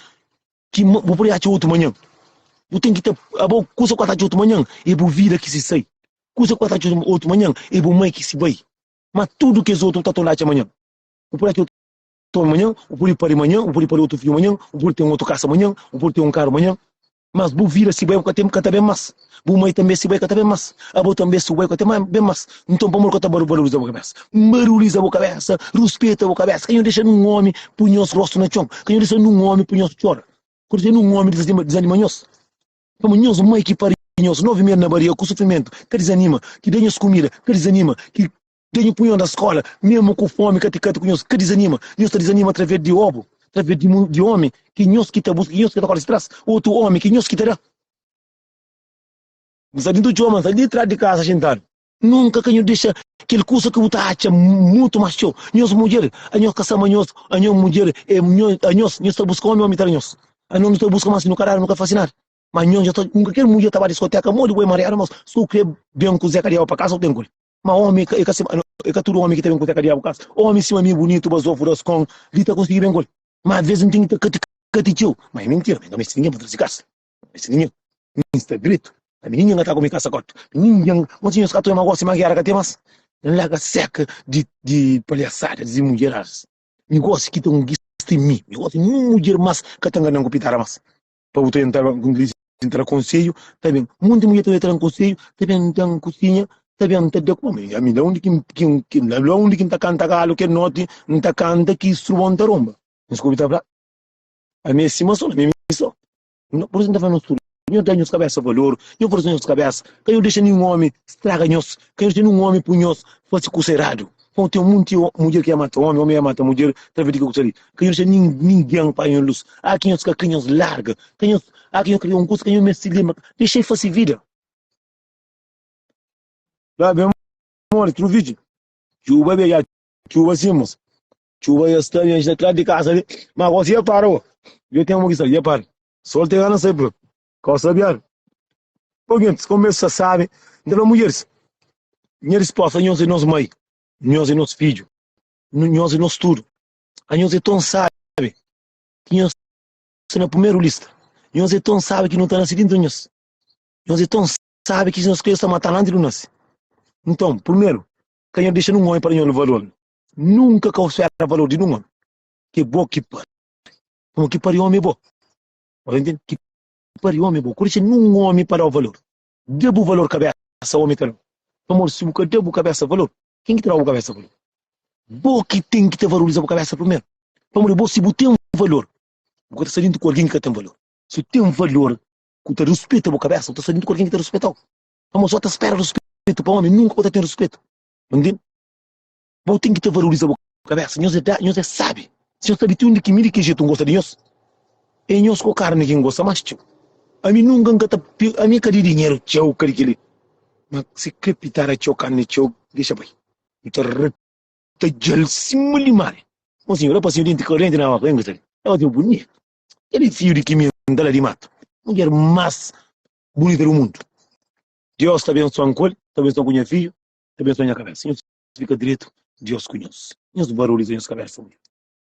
ki bu pode atxa otu manhan. Bu ten ki ta abo kusa ku atxa otu manhan e bu vida ki si sai, kusa ku atxa otu manhan e bu mai ki si bai, ma tudu kes otu bu ta torna atxa manhan, bu pode atxa otu. toma manhan, bu pode pari manhan, bu pode pari otu fidju manhan, bu pode ten otu kasa manhan, bu pode ten un karu manhan. Mas bu vida si bai bu ka ten, bu ka ta ben mas. Bu mai tanbe si bai ka ta ben mas. Abo tanbe si bu bai ka ta ben mas. Nton pamodi ka ta valoriza bu kabesa? Nbarulhiza bu kabesa, ruspeta bu kabesa. Ka nho dexa nun omi pui nhos rostu na txon, ka nho dexa nun omi pui nhos txora, ka nho dexa nun omi dizanima nhos. Pamodi nhos mai ki pari nhos novi meri na baria ku sufrimentu, ka dizanima, ki da nhos kumida, ka dizanima, ki. Tenho punhon da skola, mesmo ku fomi ka ti kati ku nhos, ka dizanima, nhos ta dizanima através di obu, através di mun, di omi ki nhos ki ta buska, ki nhos ki ta korri tras, otu omi ki nhos ki ta da. N sta dintu txoma, n sta li tras di kasa xintadu. Nunka ka nhos dexa kel kusa ki bu ta atxa mutu mas txeu, nhos mudjer, a nhos ka sa ma nhos, a nhos mudjer, e nho, a nhos, nhos ta buska omi, omi ta da nhos, a nhos nu ta buska mas nu ka dadu, nu ka fasi nada, ma nhos nhos ta, nunka kel mudjer ta ba diskoteka, modi bu é mariadu, nos su kre ben ku Zé kadiaba pa kasa u ten ku el. Ma omi e ka sima e ka tudu omi ki ta ben ku seka diabu kas. Omi sima mi e bunitu bazofu das kon li ta konsigi ben kul. Ma aves n ten ki ta kati kati txeu. Ma e mintira mi n ka meste ningen pa trazi kas. N ka meste ningen. Mi n sta dretu. Ka mi ningen ka ta ku mi kasa kotu. Mi ningen n kontinua sta atoia ma gosi ma gera ka ten mas. N larga seka di di palhasada di mudjeradas. Nigosi ki ta un gista mi. Nigosi nin un mudjer mas ka ta nganan ku pitara mas. pa bu ta entra ba ku dilijensia ta da konselhu ta ben monti mulher ta tra konselhu ta ben ta kusinha ta ben ta da kuma ami ami la undi ki ki la undi ki ta kanta galu kel noti n ta kanta ki stru bon ta ronba nhos ku obi ta fla ami é sima son ami ami son no por isu n ta fla nos tudu nhos da nhos kabesa valor nhos forsa nhos kabesa ka nhos dexa ninhun omi straga nhos ka nhos dexa ninhun omi pui nhos fasi kusa eradu Nton ten monti mudjer ki é mata ómi, ómi é mata mudjer, ta ve di ke ku ta di. Ka nhos dexa ningen panha nhos lus. A ki nhos ka kre, nhos larga. Ka nhos, a ki nhos kre un kusa, ka nhos meste lenbra. Dexa el fase vida. La ben modi tru vidju. Txuba bia dja txuba si mos. Txuba dja sta bia, dja sta klas di kasa li. Ma gosi dja para bo. Dja ten bo ki sta li, dja para. Sol ta gana sai prontu. Kau sabiadu. Bo gentis, kau mez sa sabi, N ta fla mudjeris, Nha risposta, Anhos e nos mai, nhos e nos fidju, nhos e nos tudu. Anhos e ton sabi ki nhos sta na pumeru lista. Nhos e ton sabi ki nu ta nase dintra nhos. Nhos e ton sabi ki nhos kre sta matanu antis nu nase. Nton, pumeru, ka nhos dexa nun omi pa da nhos valor-nu. Nunka kau spera valor di nun omi. Ke bo ki pari. Kuma ki pari omi e bo. Ora N ten ki pari omi bo, ku dexa ninhun omi pa da-u valor. Da bu valor kabésa, omi ta da-u. Pamodi si bu ka da bu kabésa valor, ken ki ta da bu kabésa valor? Bo ki ten ki ta valoriza bu kabésa primeru. Pamodi bo, si bu ten valor, bu ka ta sta djuntu ku algen ki ka ten valor. Si bu ten valor ku ta ruspeta bu kabésa, bu ta sta djuntu ku algen ki ta ruspeta-u. Pamodi si bu ta spera ruspetu pa omi, nunka bu ta ten ruspetu. Bu ntende? Bo ten ki ta valoriza bo kabesa. Nhos é dá, nhos é sabi. Si nhos sabi ti undi ki mi di ki jetu N gosta di nhos, é nhos ku karni ki N gosta más txeu. Ami nunka N ka ta pe, ami ka di dinheru txeu, ka di kel-li. Má si krepita da txeu karni txeu, dexa bai. N ta reta dja-l sima limari. Mon sinhu, rapasnhu di denti korenti na oku, engusta li. Rapasnhu bunitu. Kel-li fiu di ki mi N da-l di matu. Mudjer más bunita di mundu. Deus ta bensua-m ku el, ta bensua-m ku nha fidju. Abensua nha kabésa. Nhos fika dretu Deus ku nhos. Nhos barulhu ta nhos kabésa.